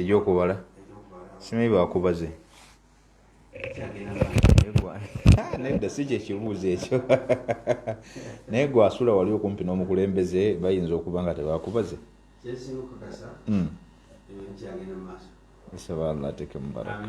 ebyokubala simanyi bakubaze nedda si kyekibuuzo ekyo naye gwe asula wali okumpi n'omukulembeze bayinza okuba nga tebakubaze hmm. inshallah ateke mubaraka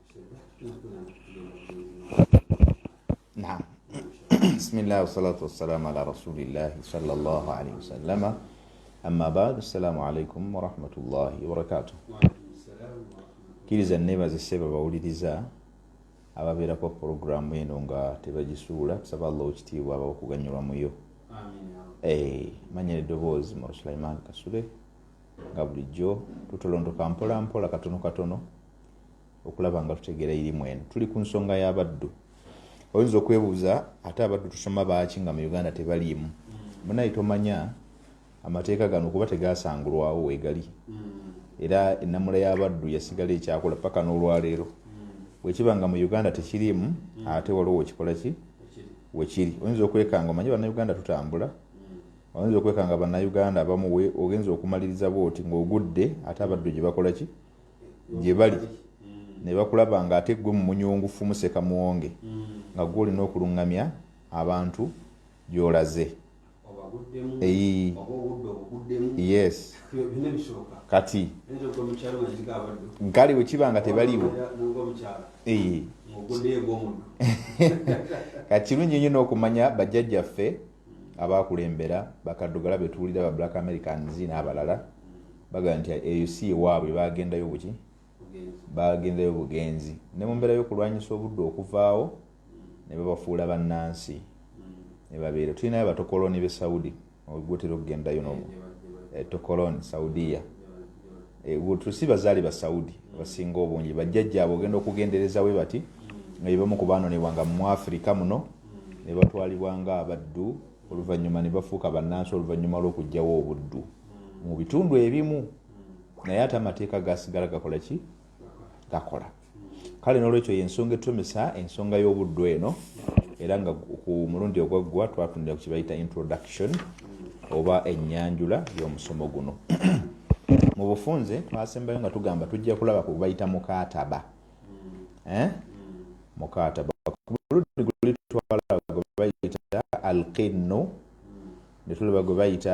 Naam. Bismillah wassalatu wassalamu ala rasulillah sallallahu alaihi wasallama. Amma ba'd, assalamu alaikum wa rahmatullahi wa barakatuh. Kiriza nebaza seba bawuliriza ababeerako pulogulaamu eno nga tebagisuula tusaba allah okitiibwa aba okuganyulwa muyo eh, manyira eddoboozi mu sulaiman kasule nga bulijjo tutolondoka mpola mpola katono katono okulaba nga tutegeera irimu eno tuli ku nsonga y'abaddu oyinza okwebuuza ate abaddu tusoma baaki nga mu uganda tebaliimu munaye tomanya amateeka gano kuba tegasangulwawo wegali era enamula y'abaddu yasigala ekyakola paka n'olwaleero bwekiba nga mu uganda tekiriimu ate waliwo wekikola ki wekiri oyinza okwekanga omanye banauganda tutambula oyinza okwekanga banauganda abamu ogenza okumaliriza bwoti ngaogudde ate abaddu gyebakola ki gye bali ne bakulaba ng'ate ggwe mu munyungufu museka muwonge nga gwe olina okulungamya abantu gy'olaze yes kati nkale bwe kiba nga tebaliwo kati kirungi nnyo n'okumanya bajjajjaffe abaakulembera bakaddugala be tuwulira ba black americans n'abalala bagamba nti eyo si ewaabwe baagendayo buki baagendayo bugenzi ne mu mbeera y'okulwanyisa obudde okuvaawo ne babafuula bannansi ne babeera tulinayo batokoloni be saudi ogutera okugendayo nomu eh, tokoloni saudiya Eh, tusi bazaale ba saudi abasinga obungi bajjajja abo ogenda okugendereza we bati nga yebamu ku baanonebwa nga mu afirika muno ne batwalibwa nga abaddu oluvannyuma ne bafuuka bannansi oluvannyuma lw'okugjawo obuddu mu bitundu ebimu naye ate amateeka gasigala gakola ki gakola kale n'olwekyo yensonga etumisa ensonga y'obuddu eno era nga ku mulundi ogwaggwa twatundira ku kibayita introduction oba enyanjula y'omusomo guno mu bufunze twasembayo nga tugamba tujja kulaba ku bayita mukataba eh? mukataba kuludi gulitwala gwe bayita alqinnu netulaba gwe bayita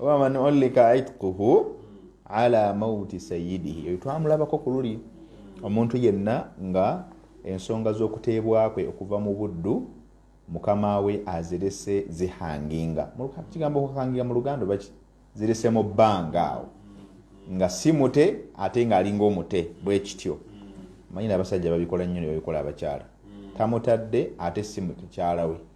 oba man ulika itquhu ala mauti sayidihi eyo twamulabako ku luli omuntu yenna nga ensonga z'okuteebwa kwe okuva mu buddu mukama we azirese zihanginga kigambo kuhanginga mu luganda baki zirese mu bbanga awo nga si mute ate ng'alinga omute bwe kityo manyina abasajja babikola nnyo ne babikola abakyala tamutadde ate si mukyala we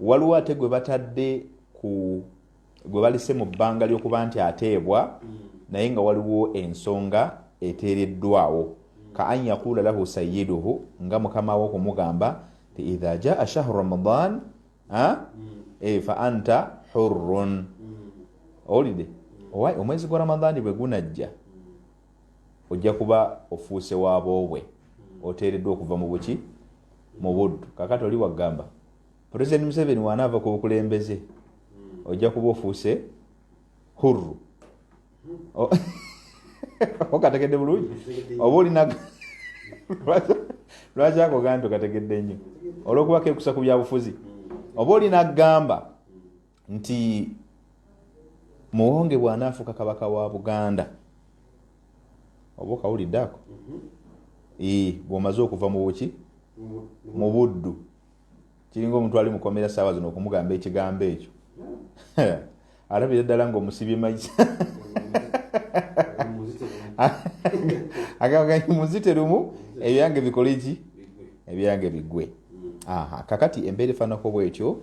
waliwo ate gwe batadde ku gwe balise mu bbanga ly'okuba nti ateebwa mm. naye nga waliwo ensonga eteereddwawo ka an yakuula lahu sayiduhu nga mukama wo okumugamba ti idha jaa shahru ramadan mm. e, fa anta hurrun mm. owulidde omwezi gwa ramadani bwe gunajja ojja kuba ofuuse wa boobwe oteereddwa okuva mu buki mu buddu kakati oli wagamba pulezidenti museveni wanaava ku bukulembeze ojja kuba ofuuse hurru okategedde bulungi oba olina lwaki akogaa nti okategedde nnyo olwokuba kekusa ku byabufuzi oba olina gamba nti muwonge bwanaafuuka kabaka wa buganda oba okawulidde ako mm-hmm. bwomaze okuva mu buki mu buddu kiringa omuntu ali mukomera saawa zino okumugamba ekigambo ekyo alabira ddala nga omusibye maisa agaganyi muzite lumu ebyange bikole ki ebyange bigwe mm. kakati embeera efaanako bwetyo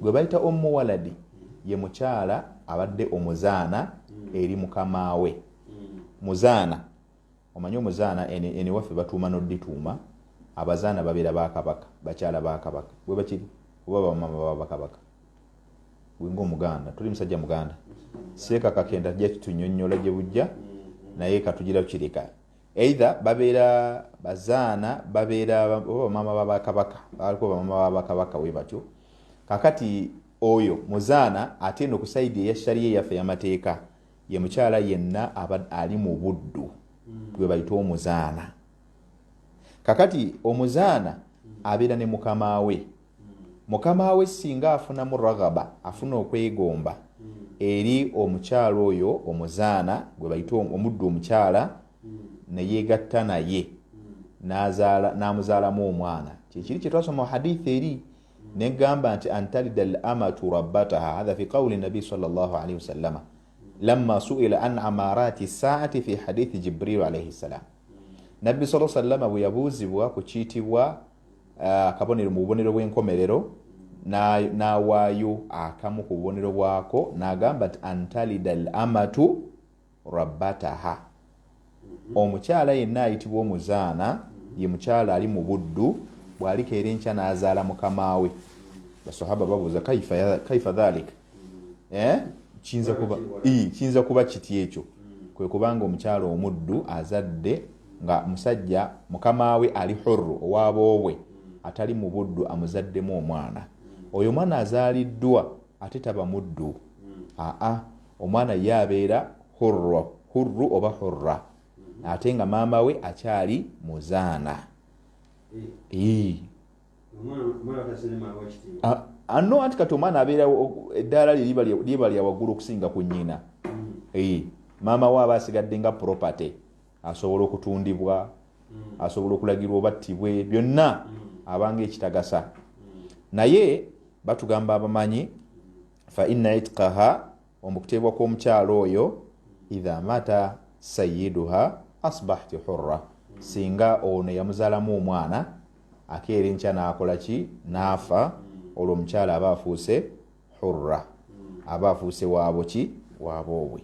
gwe bayita ommu waladi ye mukyala abadde omuzaana eri mukama we muzaana omanyi omuzaana eniwaffe batuuma nodituuma abazaana babeera bakabaka bakyala bakabaka bwe bakiri oba bamama baba bakabaka wenga omuganda tuli musajja muganda seekakakenda jja kitunyonyola gye bujja naye katugira kireka Either babeera bazaana babeera oba bamaama ba bakabaka baliko bamaama ba bakabaka we batyo kakati oyo muzaana ate eno ku saidi eya shariya eyaffe eyamateeka ye mukyala yenna aba ali mu buddu gwe bayita omuzaana kakati omuzaana abeera ne mukama we mukama we singa afunamu raghaba afuna okwegomba eri omukyala oyo omuzaana gwe bayita omuddu omukyala neyegatta naye n'amuzaalamu omwana kyekiri kyetwasoma hadith eri negamba nti antalida al amatu rabbataha hatha fi qawli nabi salllahalihi wasallama lama suila an amarati saati fi hadithi jibrilu alaihi ssalam nabbi sa sallama bwe yabuuzibwa ku kiitibwa Ah, akabonero mu bubonero bw'enkomerero n'awaayo akamu ku bubonero bwako n'agamba nti antalida al amatu rabbataha mhm. omukyala yenna ayitibwa omuzaana ye mukyala ali mu buddu bw'alikeera enkya n'azaala mukama we basahaba babuuza kaifa dhalika Eh? kiyinza kuba ii, kiyinza kuba kiti ekyo kwe kubanga omukyala omuddu azadde nga musajja mukama we ali hurru owaboobwe atali mu buddu amuzaddemu omwana oyo omwana azaaliddwa ate taba muddu aa omwana ye abeera hurru hurru oba hurra ate nga maama we akyali muzaana ii ano ah, ah, anti kati omwana abeerawo eddaala lye liba lya waggulu okusinga ku nnyina mm. maama we aba asigadde nga property asobola okutundibwa mm. asobola okulagirwa obattibwe byonna mm. abanga ekitagasa naye batugamba abamanyi fa inna itqaha omukuteebwa kw'omukyalo oyo idha mata sayiduha asbahti hurra singa ono yamuzaalamu omwana akeera enkya n'akola ki n'afa olwo omukyala aba afuuse hurra aba afuuse waabo ki waaboobwe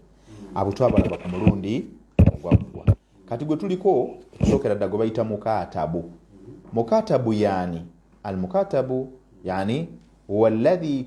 abo twabalaba ku mulundi ogwaggwa kati gwe tuliko okusookera dda gwe bayita mukaatabu mukaatabu yaani al mukaatabu yaani huwa alladhi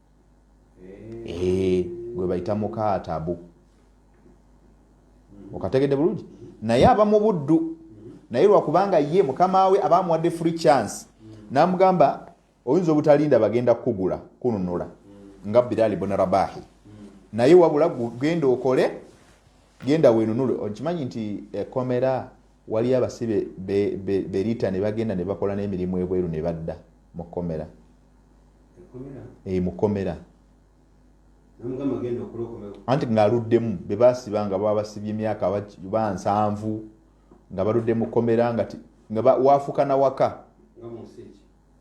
eh, gwe bayita mukaatabu okategedde bulungi naye aba mu buddu naye lwakubanga ye mukama we aba amuwadde free chance namugamba oyinza obutalinda bagenda kukugula kununula nga biraali bona rabahi naye wabula genda okole genda wenunule okimanyi nti ekomera Waliyo abasibe be, be, berita ne bagenda ne bakola n'emirimu ebweru ne badda mu kkomera. Eyi mu kkomera anti ng'aluddemu be basiba nga baba basibye emyaka ba nsanvu nga baludde mu kkomera nga waafuka na waka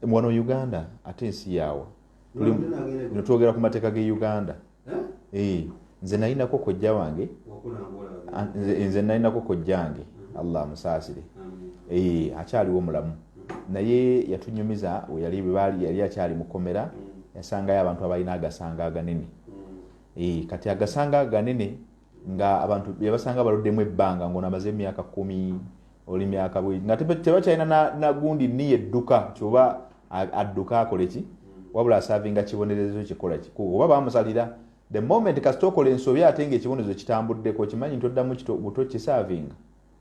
wano uganda ate ensi yaawa netwogera ku mateeka ge uganda eh? nze nalinako kojja wange nze nalinako kojjange mm-hmm. allah amusaasire eh, akyaliwo mulamu naye yatunyumiza weyali yali akyali mukomera mm. yasangayo abantu abalina agasanga aganene mm. eh, kati agasanga aganene nga abantu yabasanga baluddemu ebbanga ngono amaze emyaka kumi oli myaka bwe nga tebakyalina nagundi na niye edduka kyoba adduka akole ki wabula asavinga kibonerezo kikola ki oba bamusalira the moment kasita okola ensobi ate nga ekibonerezo kitambuddeko okimanyi nti oddamu buto kisavinga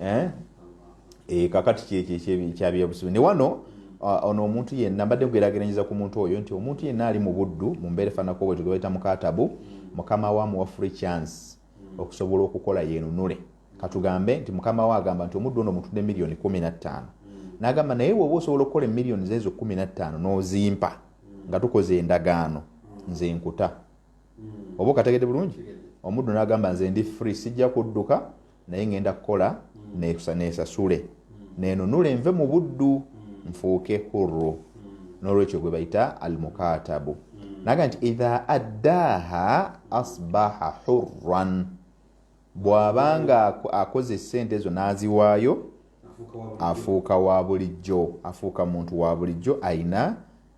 eh? eh, kakati kyekyekyabyabusubi ne wano ah, ono omuntu yenna mbadde mugerageranyeza ku muntu oyo nti omuntu yenna ali mu buddu mu mbeera efaanako bwe tugebaita mukatabu mukama wa muwa free chance okusobola okukola yenunule katugambe nti mukama we agamba nti omuddu ono omutudde miliyoni kumi na ttaano nagamba naye woba osobola okukola emiliyoni zeezo kumi na ttaano n'ozimpa nga tukoze endagaano nze nkuta oba okategedde bulungi omuddu n'agamba nze ndi free sijja kudduka naye ngenda kukola nesasule nenunule nve mu buddu nfuuke hurru n'olwekyo gwe bayita almukatabu naga nti idha addaaha asbaha hurran bw'abanga akoze esente ezo n'aziwaayo afuuka wa bulijjo afuuka muntu wa bulijjo ayina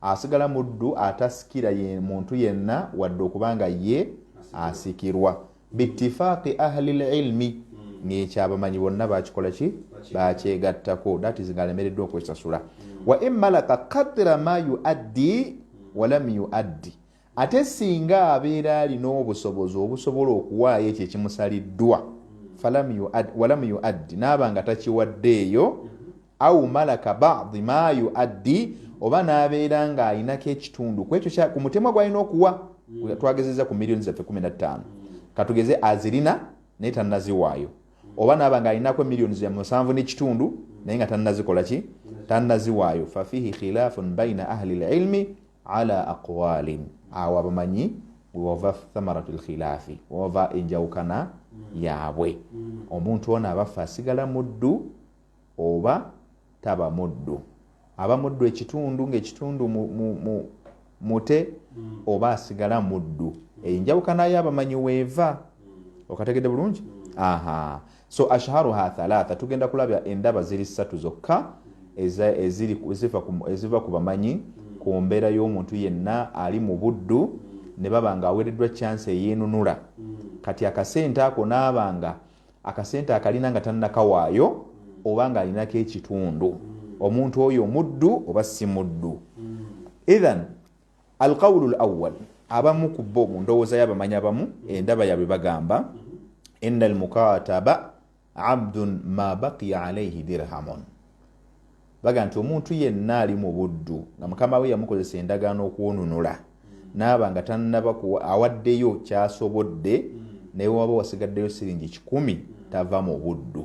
Asigala muddu atasikira ye muntu yenna wadde okuba nga ye asikirwa bittifaaqi ahli lilmi ng'ekyo abamanyi bonna bakikola ki bakyegattako that is ng'alemereddwa okwesasula wa in malaka kadra ma yuaddi walam yuaddi Ate singa abeera alina obusobozi obusobola okuwaayo ekyo ekimusaliddwa, walam yuaddi, naaba nga takiwaddeeyo, au malaka badi ma yuaddi, oba nabeera nga alinako ekitundu kwekyo ku mutemwa gwalina okuwa, mm. twagezeza ku millioni zaffe kumi na ttaano, katugeze azirina naye tanaziwaayo, oba naaba nga alinako millioni za musanvu nekitundu naye nga tanazikolaki, tanaziwaayo, fafihi khilafun baina ahli lilmi ala aqwalin awo abamanyi wewava thamaratu lkhilafi wewava enjawukana yaabwe omuntu ono abaffe asigala muddu oba taba muddu aba muddu ekitundu ngaekitundu mute oba asigala muddu enjawukana yo abamanyi weeva okategedde bulungi aha so ashharuha thalatha tugenda kulabya endaba ziri ssatu zokka eziva ku bamanyi ku mbeera y'omuntu yenna ali mu buddu ne baba nga aweereddwa kyansi eyeenunula kati akasente ako naaba nga akasente akalina nga tannakawaayo oba ng'alinako ekitundu omuntu oyo muddu oba si muddu ithan Alqawulu lawal, abamu ku bo mu ndowooza y'abamanyi abamu endaba yaabwe bagamba inna almukataba abdun ma baqiya alaihi dirhamun bagamba nti omuntu yenna ali mu buddu nga mukama we yamukozesa endagaano okwonunula naaba nga tannaba awaddeyo kyasobodde naye waba wasigaddeyo siringi kikumi tava mu buddu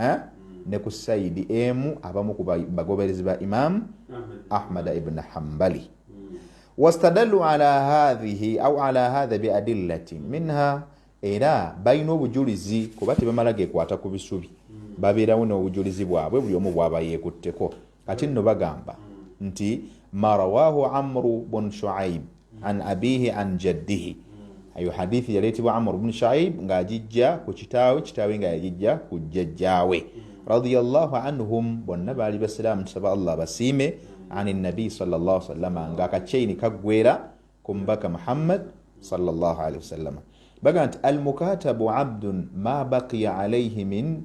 eh? ne ku saidi emu abamu ku bagoberezi ba imamu ahmada ibni hambali wastadalu ala hadhihi au ala hadha biadillatin minha era balina obujulizi kuba tebamala gekwata ku bisubi babeerawo n'obujulizi bwabwe buli omu bwaba yeekutteko Kati nno bagamba nti ma rawahu amru bun shuaib an abihi an jaddihi ayo hadithi yaleetebwa amru bun shuaib ng'agijja ku kitaawe kitaawe nga yagijja ku jjajjaawe radiallahu anhum bonna baali basiraamu tusaba allah basiime ani nabi salllah salama ng'akaceyini kaggwera ku mubaka muhammad salllah alihi wasallama baga nti almukatabu abdun ma baqiya alaihi min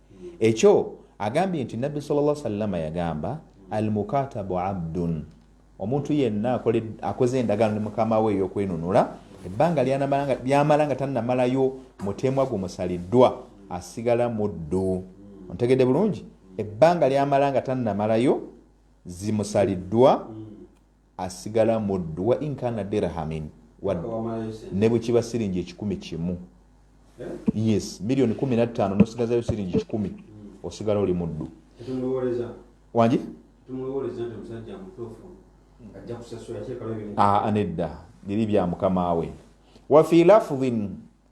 ekyo agambye nti nabbi salla sallama yagamba almukatabu abdun omuntu yenna akoze endagaano ne mukama we ey'okwenunula ebbanga lyamala nga tannamalayo mutemwa gumusaliddwa asigala muddu ontegedde bulungi ebbanga lyamala nga tannamalayo zimusaliddwa asigala muddu wa inkana dirhamin ne bwe kiba siringi ekikumi kimu yes miliyoni kumi nattaano nosigazayo siringi kikumi osigala oli muddu wangi ah, nedda biri bya mukama we wafi lafudhin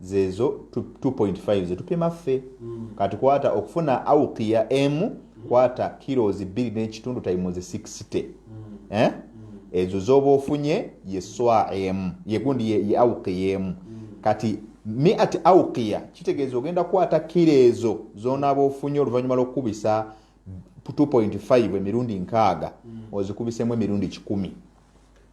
zezo 2.5 zetupima ffe mm. kati kwata okufuna aukiya emu mm. kwata kilozi bbiri n'ekitundu tayimuzi 60 mm. eh? mm. ezo zoba ofunye ye swa emu yegundi ye, ye aukiya emu mm. kati miati aukiya kitegeeza ogenda kukwata kilo ezo zonaaba ofunye oluvannyuma lwokukubisa 2.5 emirundi nkaaga mm. ozikubisemu emirundi kikumi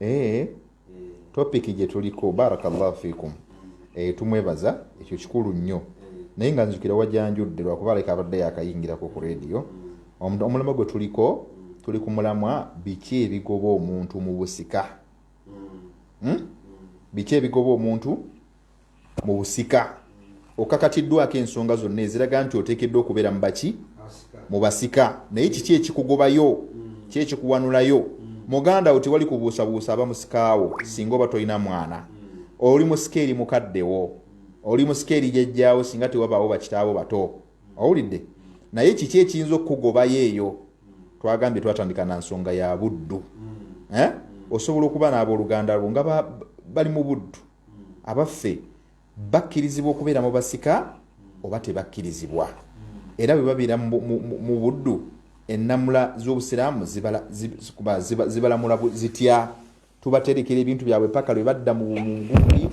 Eh, topiki gye tuliko barakallahu fikum eh, tumwebaza ekyo kikulu nnyo naye nga nzukira wajanjudde lwakuba aleka abadde yakayingirako ku rediyo omulamwa gwe tuliko tuli ku mulamwa biki ebigoba omuntu mu busika hmm? biki ebigoba omuntu mu busika okakatiddwako ensonga zonna eziraga nti oteekeddwa okubeera mu baki mu basika naye kiki ekikugobayo ki ekikuwanulayo muganda wo tewali kubuusabuusa aba musikaawo singa oba tolina mwana oli musika eri mukaddewo oli musika eri jajjaawo singa tewabaawo bakitaabo bato owulidde naye kiki ekiyinza okukugobayo eyo twagambye twatandika na nsonga ya buddu eh? osobola okuba n'abooluganda lwo nga bali mu buddu abaffe bakkirizibwa okubeera mu basika oba tebakkirizibwa era bwe babeera mu buddu ennamula z'obusiraamu zibalamula zitya tubaterekera ebintu byabwe paka lwe badda mu bumunguli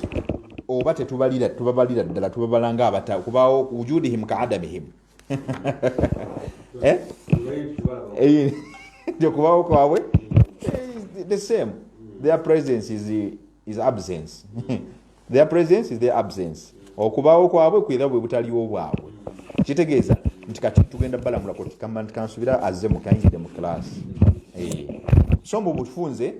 oba tetubalira tubabalira ddala tubabalanga abata kubaawo wujudihim ka adamihim eh? eh, okubawo kwabwe eh, the same their presence is, is absence their presence is their absence okubawo kwabwe kwera bwe butaliwo bwabwe kitegeeza nti kati tugenda balamula kotikamba nti kansubira azze mukayingidde mu class so mbu bufunze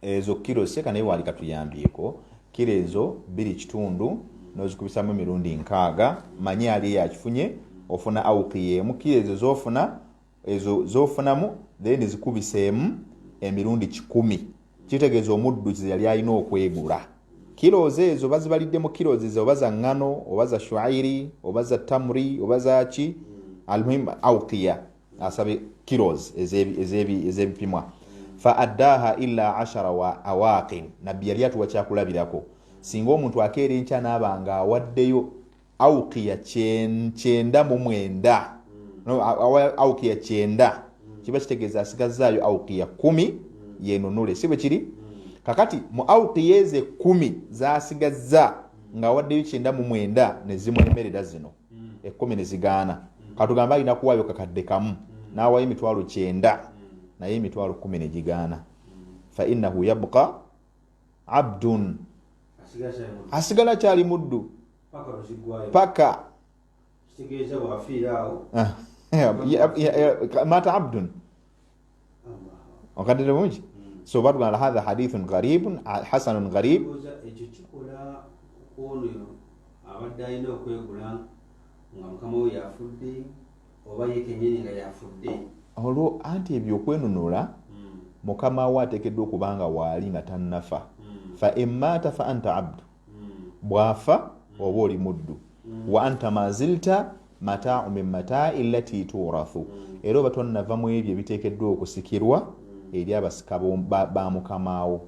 ezo kiro seka naye wali katuyambyeko kiro ezo biri kitundu nozikubisamu emirundi nkaaga manye ali eyo akifunye ofuna aukiya emu kiro ezo zofuna ezo zofunamu then zikubiseemu emirundi kikumi kitegeeza omuddu kize yali alina okwegula kilozi ezo bazibalidde mu kilozi ze oba za ŋŋano oba za shuairi oba za tamuri oba zaki almuhim aukiya asabye kilos ez'ebipimwa fa addaha ila ashara wa awaqin nabbi yali atuwa kyakulabirako singa omuntu akeera enkya naaba nga awaddeyo aukiya kyenda mu mwenda aukiya kyenda kiba kitegeeza asigazaayo aukiya kumi yenunule si bwe kiri kakati mu aukiya ezo ekumi zasigazza ng'awaddeyo kyenda mu mwenda ne zimwemerera zino ekkumi ne zigaana katugambe alina kuwaayo kakadde kamu n'awaayo emitwalo kyenda naye emitwalo kumi ne gigaana fa innahu yabqa abdun asigala kyali muddu paka mata abdun okadde bulungi hmm. so batugamba hatha hadithun gharibun hasanun gharib ekyo kikola ono abadde alina okwegula nga mukama we yafudde oba ye kenyini nga yafudde olwo anti ebyo okwenunula hmm. mukama we atekeddwa okubanga waali nga tannafa hmm. fa emaata fa anta abdu bwafa oba oli muddu wa anta mazilta mataau min mataai lati turathu era oba tonnava mu ebyo ebiteekeddwa okusikirwa eri abasika ba mukamaawo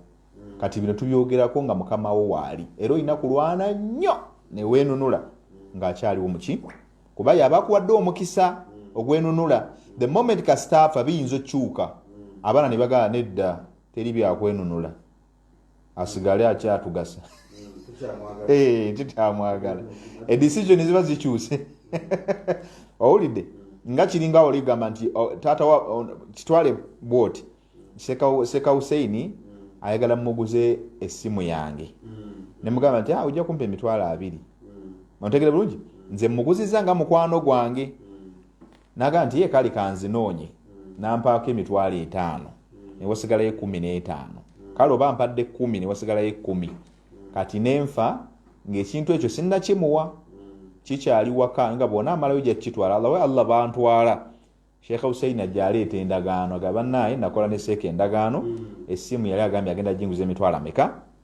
kati bino tubyogerako nga mukamaawo waali era olina kulwana nnyo neweenunula ng'akyaliwo muki kuba yaba akuwadde omukisa ogwenunula the moment kasitaafa biyinza okukyuka abaana ne bagala nedda teri byakwenunula asigale akyatugasa eh, nti tamwagala edecision ziba zikyuse owulidde nga kiringa oligamba nti oh, taata oh, kitwale bwoti seka huseini ayagala muguze essimu yange mm. nemugamba nti ah, ojja kumpa emitwalo abiri mm. ontegere bulungi nze muguziza nga mukwano gwange mm. Naga nti ye kale kanzinoonye nampaako emitwalo etaano newasigalayo ekumi n'etaano kale oba mpadde kumi newasigalayo ekumi kati nenfa ng'ekintu ekyo sinnakimuwa kikyali waka nga bona amalayo jakitwala allawe allah bantwala sheekh husein ajja aleeta endagaano aga bannaaye nakola ne seeka endagaano essimu yali agambye agenda jinguza emitwalo ameka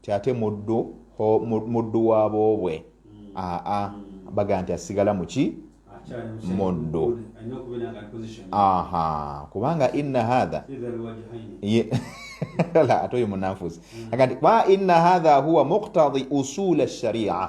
nti ate muddu muddu wa boobwe aa bagamba nti asigala muki muddu aha kubanga inna hatha ate oyo munanfuzi mm. agati kuba inna hatha huwa muktadi usula sharia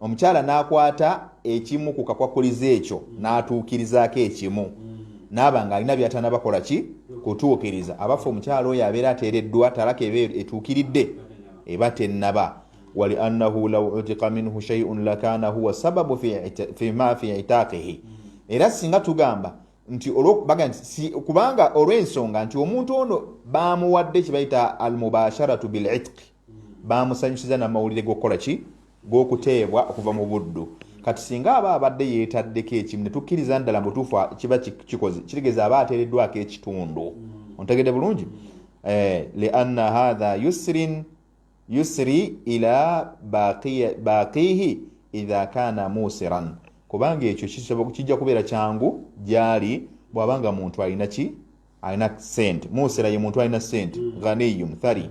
omukyala n'akwata ekimu ku kakwakulizo ekyo mm. n'atuukirizaako ekimu mm. naaba ng'alina byatana bakola ki kutuukiriza abaffe omukyala oyo abeera ateereddwa talaka eba etuukiridde eba tennaba wali annahu law utika minhu shaiun lakana huwa sababu fima fi itaakihi era singa tugamba nti kubanga olw'ensonga nti omuntu ono baamuwadde kye bayita almubasharatu bilitqi baamusanyusiza n'amawulire g'okukola ki g'okuteebwa okuva mu buddu kati singa aba abadde yeetaddeko ekimu ne tukkiriza ddala mubutuufu kiba kikoze kitegeeza aba ateereddwako ekitundu ontegedde bulungi eh, lianna hatha yusrin yusri ila baaqiihi idha kaana muusiran kubanga ekyo kijja kubeera kyangu gyali bw'aba nga muntu alina ki alina sente muusira ye muntu alina sente ghaniyu muthari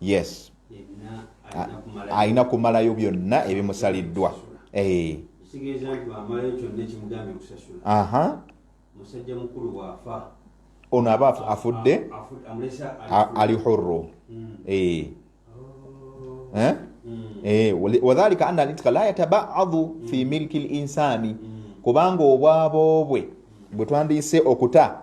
yes alina kumalayo byonna ebimusaliddwa eh. ono aba afudde ali hurru hmm. eh. oh. eh? hmm. wadhalika anna alitka la yatabaadu hmm. fi milki linsani kubanga obwabo bwe bwe twandiyise okuta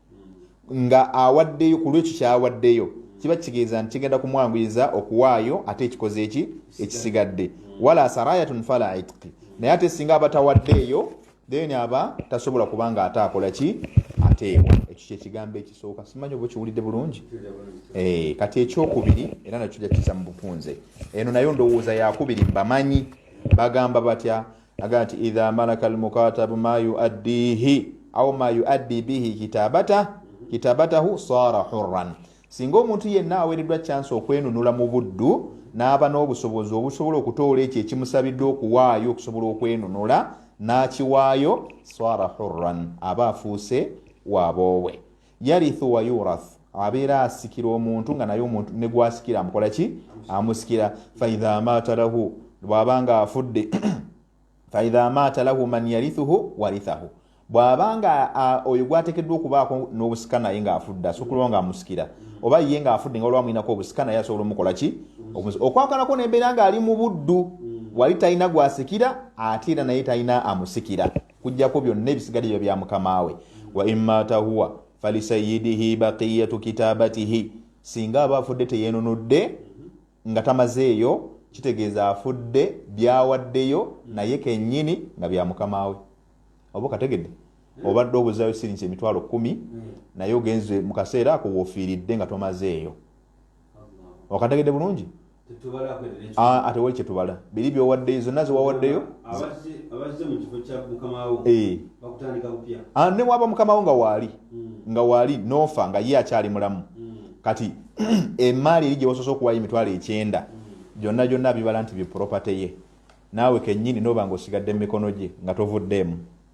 nga awaddeyo ku lwekyo kyawaddeyo kiba kitegeeza nti kigenda kumwanguyiza okuwaayo ate ekikoze eki ekisigadde wala sarayatun fala itqi naye ate singa aba tawaddeeyo then aba tasobola kuba nga ate akola ki ateebwa ekyo kyekigambo ekisooka simanyi oba okiwulidde bulungi eh, kati ekyokubiri era nakyo jakiza mu bufunze eno nayo ndowooza yakubiri mbamanyi bagamba batya agamba nti idha malaka almukatabu ma yuaddihi au ma yuaddi bihi kitabata kitabatahu sara hurran singa omuntu yenna aweereddwa kyansi okwenunula mu buddu n'aba n'obusobozi obusobola okutoola ekyo ekimusabiddwa okuwaayo okusobola okwenunula n'akiwaayo sara hurran aba afuuse waboowe yarithu wa yurath abeera asikira omuntu nga naye omuntu ne gwasikira amukola ki amusikira faidha maata lahu bw'aba nga afudde faidha maata lahu man yarithuhu warithahu bw'aba nga oyo gwatekeddwa okubaako n'obusika naye ng'afudde asobola okuba nga amusikira oba ye ng'afudde nga olwa mulinako obusika naye asobola omukola ki okwakanako n'embeera ng'ali mu buddu wali talina gwasikira ate era naye talina amusikira kujjako byonna ebisigadde biba bya mukama we wa immata huwa falisayidihi baqiyatu kitabatihi singa aba afudde teyenunudde nga tamazeeyo kitegeeza afudde byawaddeyo naye kenyini nga bya mukama we oba kategedde obadde obuzayo sirinsi emitwalo kumi naye ogenze mu kaseera ako wofiiridde nga tomazeeyo wakategedde bulungi atewali kyetubala biri byowaddeyo zonna zewawaddeyo eh. ah, newaba mukamawo nga waali hmm. nga waali nofa nga ye akyali mulamu hmm. kati emaali eri gyewasoose okuwayo emitwalo ekyenda hmm. gyonna gyonna bibala nti bipropaty ye naawe kenyini noba nga osigadde mu mikono gye nga tovuddeemu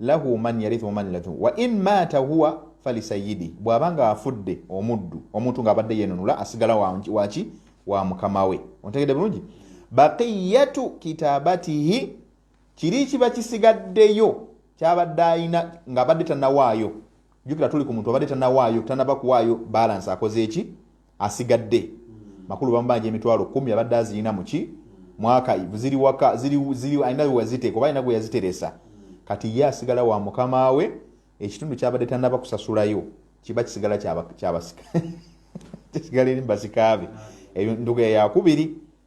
lahu man yarithu man lathu wa in mata huwa falisayidi bw'aba nga afudde omuddu omuntu ng'abadde yenunula asigala waki wa mukama we ontegedde bulungi baqiyatu kitabatihi kiri kiba kisigaddeyo kyabadde ayina ng'abadde tanawaayo jukira tuli ku muntu abadde tanawaayo tanaba kuwaayo balansi akoze eki asigadde makulu bamubanja emitwalo kumi abadde azirina muki mwaka ziri waka ziri alina wewaziteeka oba alina gweyaziteresa kati ye asigala wa mukama we ekitundu kyabadde tanaba kusasulayo kiba kisigala kyabasika kisigala eri mubasikaabe ebyo nduga yakubiri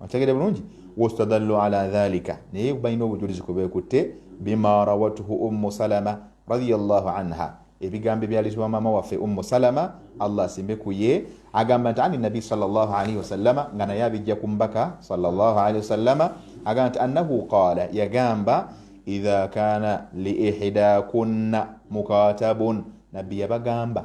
otegede bulungi wastadallu ala dhalika naye balina obujulizi kubekutte bima rawatuhu ummu salama radiallahu anha ebigambo ebyalizibwa maama waffe ummu salama allah asimbe kuye agamba nti ani nabi salllahalaihi wasallama nga naye abijja ku mbaka salllahalaihi wasallama agamba nti annahu qaala yagamba idha kana liihidakunna mukatabun nabbi yabagamba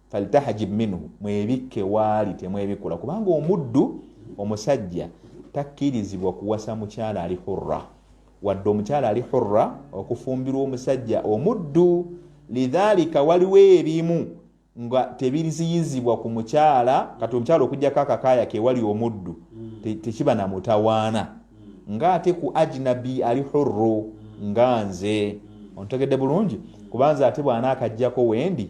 faltahajib minhu mwebikke waali temwebikula kubanga omuddu omusajja takkirizibwa kuwasa mukyala ali hurra wadde omukyala ali hurra okufumbirwa omusajja omuddu lidhalika waliwo ebimu nga tebiriziyizibwa ku mukyala kati omukyala okujjako akakaaya kewali omuddu tekiba na mutawaana nga ate ku ajnabi ali hurru nga nze ontegedde bulungi kubanza ate bwanaakajjako wendi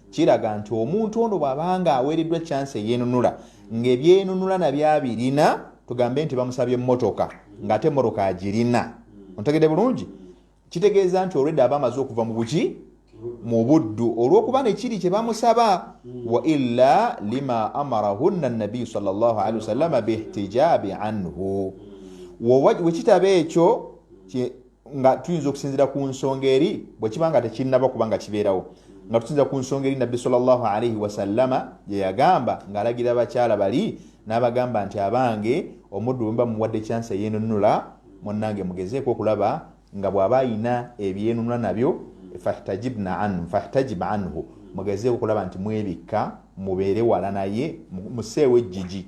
Kiraga nti omuntu ono bw'aba nga aweereddwa chance eyenunula ng'ebyenunula nabyo abirina tugambe nti bamusabye mmotoka ng'ate mmotoka agirina ontegede bulungi kitegeeza nti olwedda aba amaze okuva mu buki mu buddu olw'okuba nekiri kye bamusaba wa illa lima amarahunna nabiyu salllahalihi wasallama bihtijaabi anhu wekitaba ekyo nga tuyinza okusinzira ku nsonga eri bwekiba nga tekinnaba kuba nga kibeerawo nga tusinza ku nsonga eri nabbi salllah alaihi wasallama gyeyagamba ng'alagira abakyala bali n'abagamba nti abange omuddu bwemuba muwadde kyansi eyenunula munange mugezeeko okulaba nga bw'aba ayina ebyenunula nabyo fahtajibna anhu fahtajib anhu mugezeeko okulaba nti mwebikka mubeere wala naye museewo ejjiji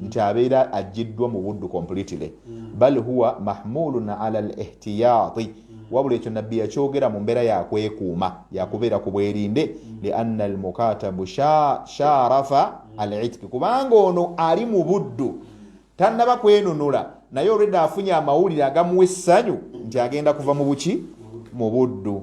nti abeera ajjiddwa mu buddu completely mm. bal huwa mahmulun ala lihtiyati mm. wabula ekyo nabbi yakyogera mu mbeera yakwekuuma yakubeera ku bwerinde mm. lianna almukatabu sharafa alitiki kubanga ono ali mu buddu tannaba kwenunula naye olwedde afunye amawulire agamuwa essanyu nti agenda kuva mu buki mu buddu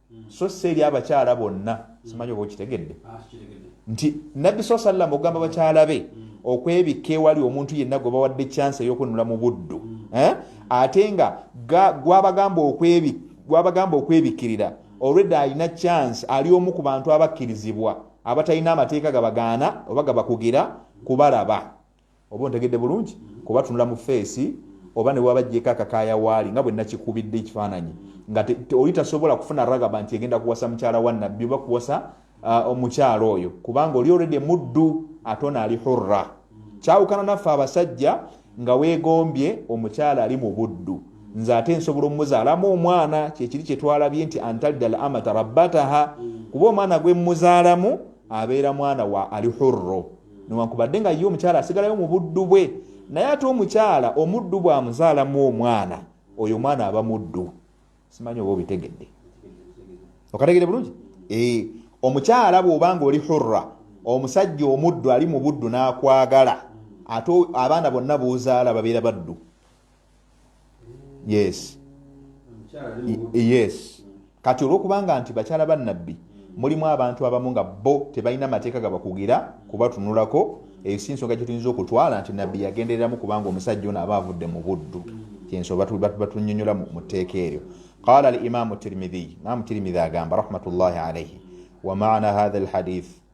hmm. so si eri abakyala bonna hmm. simanyi oba okitegedde ah, nti nabbi saa sallam okugamba bakyala be hmm. okwebikka ewali omuntu yenna gwe bawadde kyansi ey'okwenunula mu buddu eh? ate nga gwabagamba okwebikkirira olwedde alina kyansi ali omu ku bantu abakkirizibwa abatalina amateeka gabagaana oba gabakugira kubalaba oba ontegedde bulungi kuba tunula mu feesi oba newaba jjeko akakaya waali nga bwenakikubidde ekifaananyi nga oli tasobola kufuna ragaba nti egenda kuwasa mukyala wa nabbi oba kuwasa uh, omukyala oyo kubanga oli olredi muddu ate ono ali hurra kyawukana naffe abasajja nga wegombye omukyala ali mu buddu nze ate nsobola omuzaalamu omwana kyekiri kyetwalabye nti antalidal amata rabbataha kuba omwana gwemuzaalamu abeera mwana wa ali hurro newankubadde nga ye omukyala asigalayo mu buddu bwe naye ate omukyala omuddu bwamuzaalamu omwana oyo omwana aba muddu simanyi oba obitegedde okategede bulungi eh, omukyala bwobanga oli hurra omusajja omuddu ali mu buddu n'akwagala ate abaana bonna boozaala babeera baddu yes yes kati olwokubanga nti bakyala ba nabbi hmm. mulimu abantu abamu nga bo tebalina mateeka gabakugira hmm. kubatunulako hmm. eyo si nsonga kyetuyinza okutwala nti nabbi yagendereramu kubanga omusajja ono aba avudde mu buddu kyensonga batunyonyola mu tteeka eryo qala al imamu tirmidhiy imamu tirmidhi agamba rahmatullahi alaihi wamaana hatha alhadith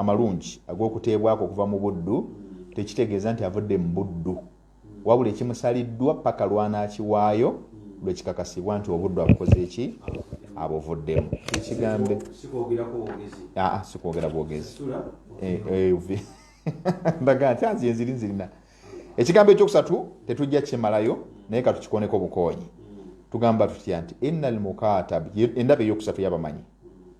amalungi ag'okuteebwako okuva mu buddu tekitegeeza nti avudde mu buddu wabula ekimusaliddwa paka lwanaakiwaayo lwe kikakasibwa nti obuddu abukoze eki abuvuddemu ekigambe sikwogera bwogezi ndaga nti anzi enziri nzirina ekigambo ekyokusatu tetujja kimalayo naye katukikoneko bukoonyi tugamba tutya nti ina almukatab endaba eyokusatu yabamanyi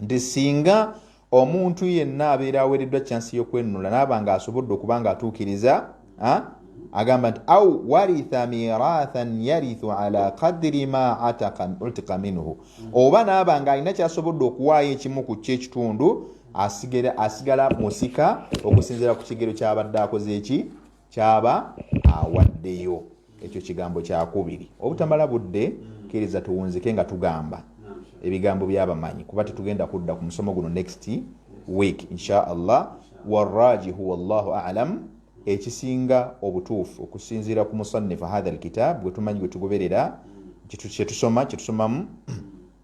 nti singa omuntu yenna abeera aweereddwa kyansi y'okwenunula naaba nga asobodde okuba nga atuukiriza agamba nti au waritha mirathan yarithu ala kadiri ma utika minhu oba naaba nga alina kyasobodde okuwaayo ekimu ku kyo ekitundu asigala musika okusinzira ku kigero kyabadde akoze eki kyaba awaddeyo ekyo kigambo kyakubiri obutamala budde kkiriza tuwunzike nga tugamba ebigambo byabamanyi kuba tetugenda kudda ku musomo guno next week insha allah warajihu wallahu alam ekisinga obutuufu okusinziira ku musannifu hatha alkitab gwetumanyi gwetugoberera kyetusoma kyetusomamu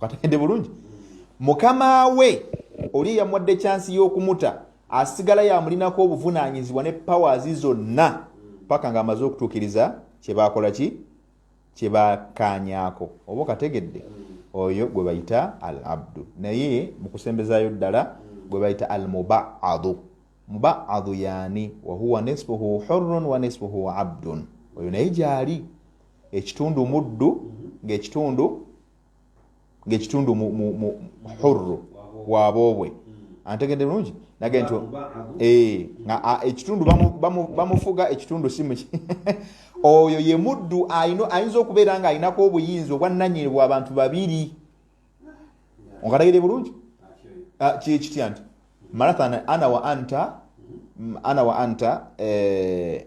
kategedde bulungi mukama we oli eyamuwadde kyansi y'okumuta asigala yamulinako obuvunaanyizibwa ne powers zonna paka nga amaze okutuukiriza kyebakola ki kyebakaanyako oba okategedde oyo gwe bayita al abdu naye mukusembezayo ddala gwe bayita al mubaadu mubaadu yaani wahuwa nisfuhu hurun wa nisfuhu abdun oyo naye gyali ekitundu muddu ngaekitundu ngaekitundu hurru waboobwe antegedde bulungi nage nti eh, nga ekitundu bamufuga ekitundu simu oyo ye muddu ayinza okubeera nga alinako obuyinza obwannanyini bwa bantu babiri onkategedde bulungi ah, kyekitya nti marathan ana wa anta ana wa anta eh,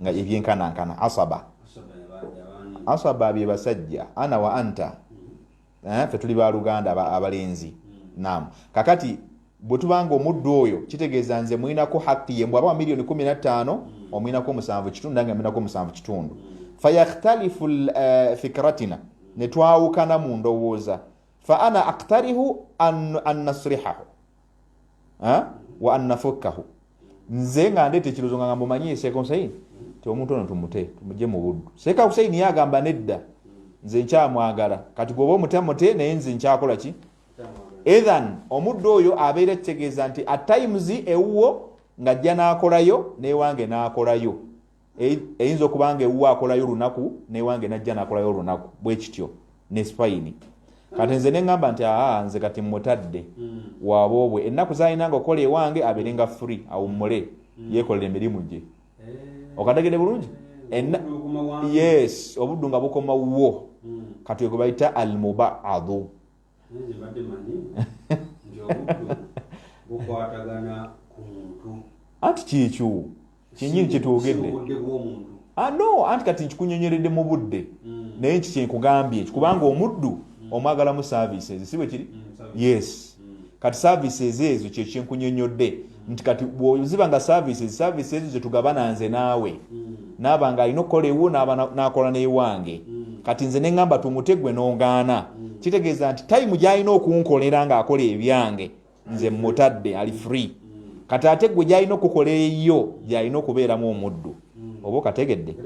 nga ebyenkanankana asaba asaba bye basajja ana wa anta mm-hmm. eh, fe tuli baluganda abalenzi mm-hmm. nam kakati bwe tubanga omuddu oyo kitegeeza nze mulinako haqi ye mbwaba wa miliyoni 15 mm-hmm. omulinako omusanvu kitundu nange mulinako omusanvu kitundu fayakhtalifu eh, fikratina ne twawukana mu ndowooza fa ana aktarihu an nasrihahu wa annafukkahu nze nga ndeeta ekirozo nga ngambo manyi eseeka husaini ti omuntu ono tumute tumugye mu buddu seeka husaini ye agamba nedda nze nkyamwagala kati gwoba omute mute naye nze nkyakola ki ethan omuddu oyo abeera kitegeeza nti at times ewuwo ng'ajja n'akolayo n'ewange n'akolayo eyinza okuba nga ewuwe akolayo olunaku newange najja nakolayo olunaku bwekityo nespaini kati nze neŋamba nti aa nze kati mutadde hmm. waboobwe ennaku zalinanga okukola ewange abeere nga free awummule hmm. yekolera emirimu gye eh. okategede bulungi eh, yes obuddu nga bukoma wuwo hmm. kati wegwe bayita almubaadu anti kyekyo kyenyini kyetwogedde ah, no anti kati nkikunyonyeredde mu budde mm. naye nki kyenkugambye kubanga omuddu mm. omwagalamu services si bwe kiri mm, yes kati services ezo kyekyenkunyonyodde nti kati bwoziba nga services services ezo zetugabana nze naawe mm. naaba nga alina okukola ewo nakola newange mm. kati nze neŋamba tumute gwe nogaana mm. kitegeeza nti tayimu gyalina okunkolera nga akola ebyange nze mutadde ali free kati ate gwe gyalina okukola eyo gyalina okubeeramu omuddu mm. mm. oba okategedde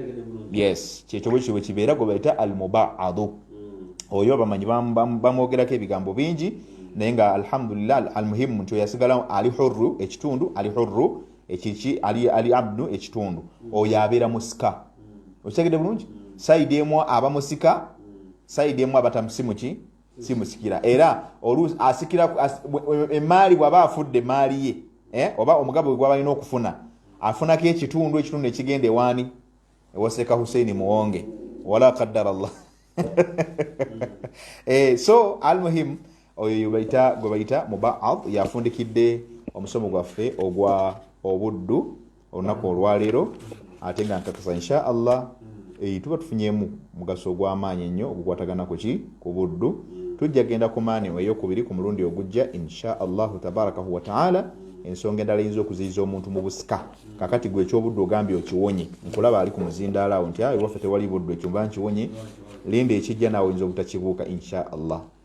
yes kyekyo bwekityo bwekibeera gwe bayita al mubaadu mm. oyo bamanyi bamwogerako ebigambo bingi mm. naye nga alhamdulillah al muhimu nti oyasigala ali hurru ekitundu ali hurru ekiki ali, ali abdu ekitundu oyo abeera musika okitegedde bulungi saidi emu aba musika saidi emu abatamusimuki si musikira era oluusi asikira emaali bwaba afudde emaali ye eh, oba omugabo gwe gwabalina okufuna afunako ekitundu ekitundu ekigenda ewaani ewaseeka huseini muwonge wala kaddara llah eh, so almuhim oyo bayita gwe bayita mubaad yafundikidde omusomo gwaffe ogwa obuddu olunaku olwaleero ate nga nkakasa insha allah eh, tuba tufunyemu mugaso ogw'amaanyi ennyo ogukwatagana ku ki ku buddu tujja genda ku maani eyokubiri ku mulundi ogujja insha allahu tabarakahu wataala ensonga endala eyinza okuziyiza omuntu mu busika kakati gwe ekyobuddu ogambye okiwonye nkulaba ali ku muzindaala awo nti awe waffe tewali buddu ekyomba nkiwonye linda ekijja naawe oyinza obutakibuuka insha allah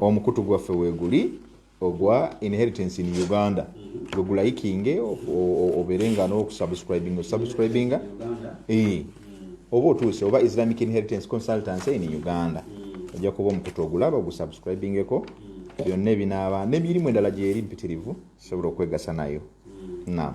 omukutu gwaffe weguli ogwa inheritance in uganda gwe gulayikinge obeere nga n'okusubscribinga osubscribinga eh. oba otuuse oba islamic inheritance consultancy in uganda ojja kuba omukutu ogulaba ogusubscribingeko byonna ebinaaba nemirimu endala gyeri mpitirivu sobola okwegasa nayo nam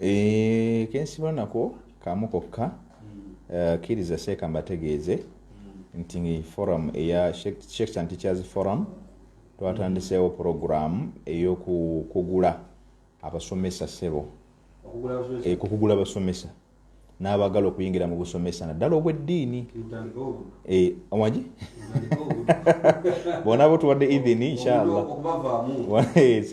Eh, kensiba nako kamu kokka hmm. eh, kiriza seeka mbategeeze hmm. nti forum eya sheikh santichers forum twatandiseewo hmm. puroguramu eyokukugula abasomesa sebo okugula eh, abasomesa n'abagala okuyingira mu busomesa naddala obw'eddiini eh, wagi bona bo tuwadde idhini inshallah eh,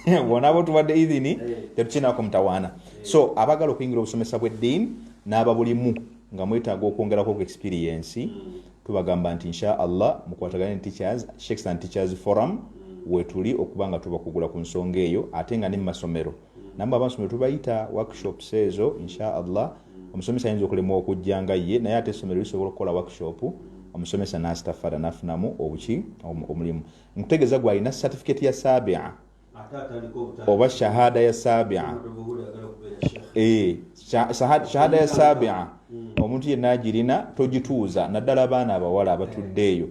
eh, bona bo tuwadde idhini tetukinako mutawaana so abagala okuyingira obusomesa bw'eddiini n'ababulimu nga mwetaaga okwongerako ku experiensi mm. tubagamba nti inshallah mukwatagane ne teachers shakes and teachers forum mm. wetuli okuba nga tubakugula ku nsonga eyo ate nga ne mu masomero namwe abansomero tubayita workshops ezo insha allah omusomesa ayinza okulemwa okujja nga ye naye ate essomero lisobola okukola workshop omusomesa nastafada nafunamu obuki omulimu nkutegeeza gwalina certificate ya sabia oba shahada ya sabia eh, shahada ya sabia omuntu yenna agirina togituuza naddala abaana abawala abatudde eyo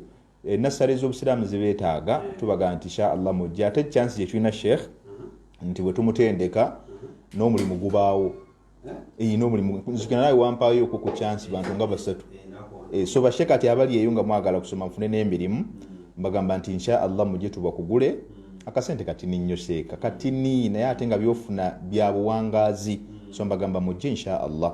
Eh, nassale z'obusiraamu zibeetaaga tubaga nti sha allah mujja ate chansi gyetulina sheikh nti bwetumutendeka n'omulimu gubaawo eh, n'omulimuzukinaye wampaayo okwo ku chansi bantu nga basatu eh, so bashe kati abali eyo nga mwagala kusoma nfune n'emirimu mbagamba nti insha allah mujje tubakugule akasente katini nnyo seeka katini naye ate nga byofuna bya buwangaazi so mbagamba mujje insha allah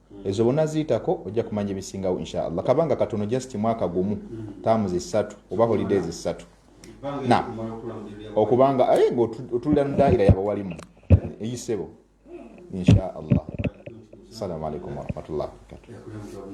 ezo bona ziyitako ojja kumanya ebisingawo inshallah kabanga katono just mwaka gumu taamu zisatu oba holidays zisatu na okubanga aye eh, ngaotulira mudaira yabawalimu eyisebo inshallah assalamu alaikum warahmatullahi wabarakatuh